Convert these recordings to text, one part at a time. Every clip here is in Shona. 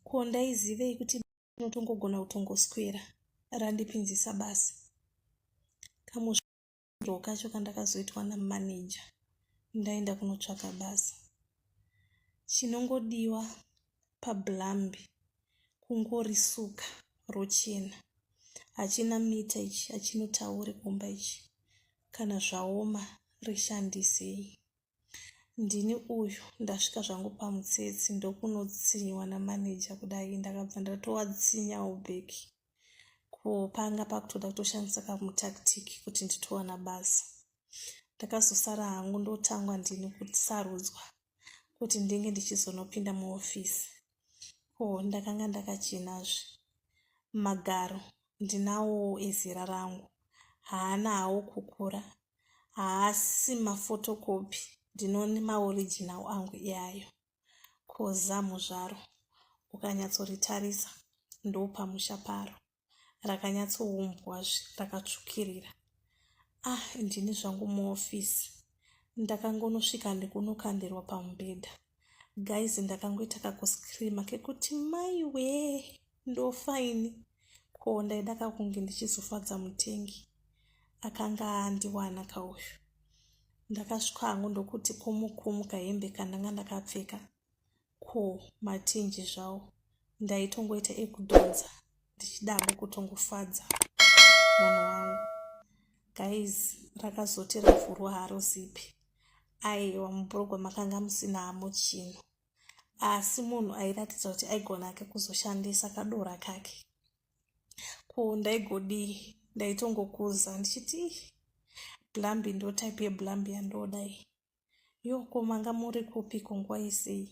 ko ndaizivei kuti unotongogona kutongoswera randipinzisa basa kamusviro kacho kandakazoitwa namaneja ndaenda kunotsvaka basa chinongodiwa pablambi kungorisuka rochena hachina mita ichi hachinotaure kumba ichi kana zvaoma rishandisei ndini uyu ndasvika zvangu pamutsetse ndokunotsinyiwa namaneja kudai ndakabva ndatowatsinyawo back ko panga pakutoda kutoshandisa kamutactic kuti nditowana basa ndakazosara hangu ndotangwa ndini kusarudzwa kuti ndinge ndichizonopinda muofisi oh ndakanga ndakachinazve magaro ndinawo ezera rangu haana hawo kukura haasi mafotokopi ndinone maoriginal angu iyayo koza muzvaro ukanyatsoritarisa ndopamusha paro rakanyatsoumbwa zve rakatsvukirira ah ndini zvangu muofisi ndakangonosvika ndikunokandirwa pamubhedha guys ndakangoita kakuscreama kekuti mai wee ndofaini ko ndaida kakunge ndichizofadza mutengi akanga andiwana kauyu ndakasvika hangu ndokuti kumukumuka hembe kandanga ndakapfeka ko matinji zvawo ndaitongoita ekudhonza ndichidamo kutongofadza munhu wangu guys rakazoti ravhurwa haro zipi aiwa mubrogwa makanga musina hamo chino asi munhu airatidza kuti aigona ake kuzoshandisa kadora kake ko ndaigodii ndaitongokuza ndichiti blambi ndotype yeblambi yandodai yo ko manga muri kupi ko nguva yesei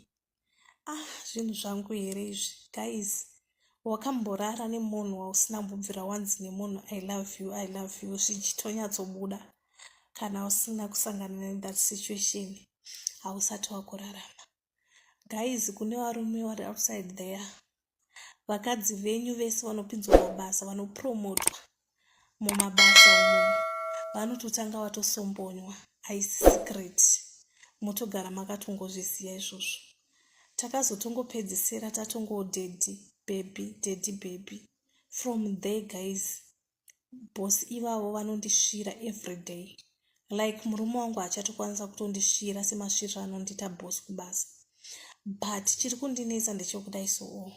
ah zvinhu zvangu here izvi guys wakamborara nemunhu wausina mbubvira wanzi nemunhu i love you i love you zvichitonyatsobuda kana usina kusangana nethat situation hausati wakurarama guys kune varume vari outside there vakadzi venyu vese vanopinzwa mabasa vanopromotwa mumabasa umu vanototanga vatosombonywa aisi secret motogara makatongozviziva izvozvo takazotongopedzisira tatongodedi bhebhi dedi bhebhi from there guys boss ivavo vanondisvira everyday like murume wangu achatokwanisa kutondisvira semasviriro anondiita boss kubasa but chiri kundinetsa ndechekudai soo oh.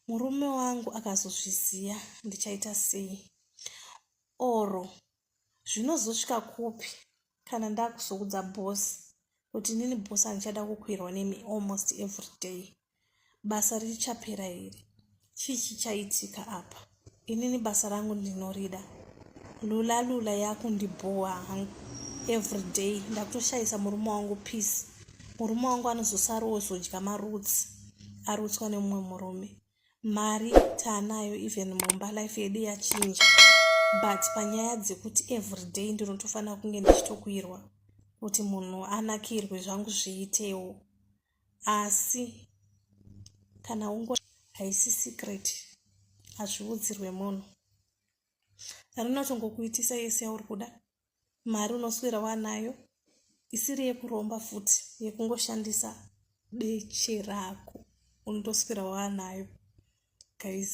murume wangu akazozviziva ndichaita sei oro zvinozosvika kupi kana ndakuzoudza boss kuti nini boss handichada kukwirwa nemi almost every day basa richapera here chii chichaitika apa inini basa rangu ndinorida lula lula yakundibhowa hangu every day ndakutoshayisa murume wangu peace murume wangu anozosarowo zodya marutsi arutswa nemumwe murume mari taanayo even mumba life yedu yachinja but panyaya dzekuti everyday ndinotofanira kunge ndichitokuirwa kuti munhu anakirwe zvangu zviitewo asi kana ungo haisi secret hazviudzirwe munhu rinotongokuitisa yese yauri kuda mari unoswera wanayo isiri yekuromba futi yekungoshandisa beche rako unotoswera wanayo guys